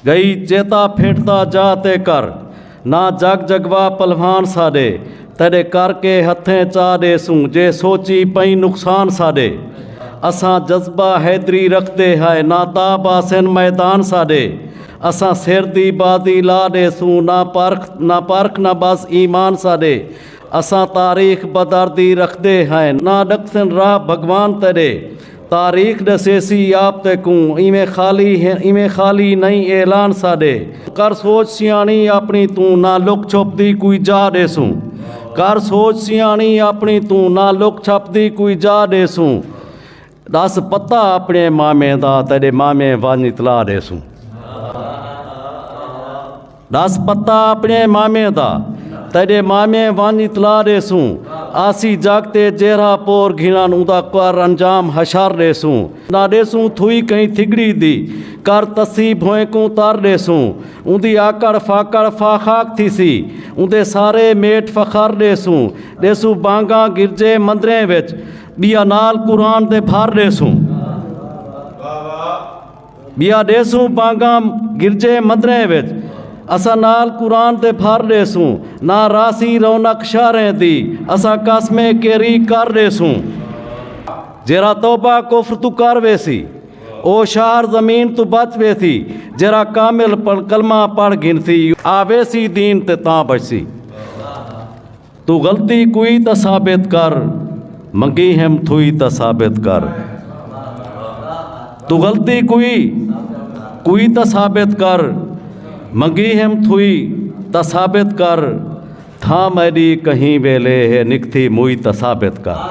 گئی چیتا پھٹدا جا تے کر نہ جگ جگوا پلوان ساڈے تیڈے کر کے ہتھیں چا ڈے سوں جے سوچی پئیں نقصان ساڈے اساں جذبہ حیدری رکھدے ہائے نہ تا باسن میدان ساڈے اساں سر دی بازی لا ڈے سوں نہ پرکھ نہ پرکھ نہ بس ایمان ساڈے اساں تاریخ بدر دی رکھدے ہائے نہ ڈکسن راہ بھگوان تیڈے تاریخ ڈسیسی آپ تے کوں ایویں خالی ایویں خالی نئیں اعلان ساڈے۔ کر سوچ سیاݨی آپݨی توں نہ لک چھپ دی کوئی جا ݙیسوں۔ کر سوچ سیاݨی آپݨی توں نہ لک چھپ دی کوئی جا ݙیسوں۔ ݙس پتہ آپݨے مامے دا تیݙے مامے ونڄ اطلاع ݙیسوں۔ ݙس پتہ اپݨے مامیں دا تیݙے مامیں ونڄ اطلاع ݙیسوں آسی جڳ تے جیرھا پور گھنݨ اوندا کر انجام حشر ݙیسوں نہ ݙیسوں تھوئی کہیں تھڳڑی دی کر تسی بھوئیں کوں تر ݙیسوں اوندی آکڑ فاکڑ فا خاک تھیسی اوندے سارے میٹ فخر ݙیسوں ݙیسوں بانگاں گرجے مندریں وچ ٻیا نال قرآن دے بھر ݙیسوں بیا ڈیسوں پانگام گرجے مندریں وچ اساں نال قرآن تے پھر ڈیسوں نہ راسی رونق شہریں دی اساں قسم کیری کر ڈیسوں جیرا توبہ کفر تو کر ویسی او شہر زمین تو بچ ویسی جیرا کامل کلمہ پڑھ گھنسی آویسی دین تے تاں بچسی توں غلطی کوئی تاں ثابت کر منگی ہم تھوئی تاں ثابت کر توں غلطی کوئی کوئی تاں ثابت کر منگی ہم تھوئی تاں ثابت کر تھا میڈی کہیں ویلے ہے نکتھی موئی تاں ثابت کر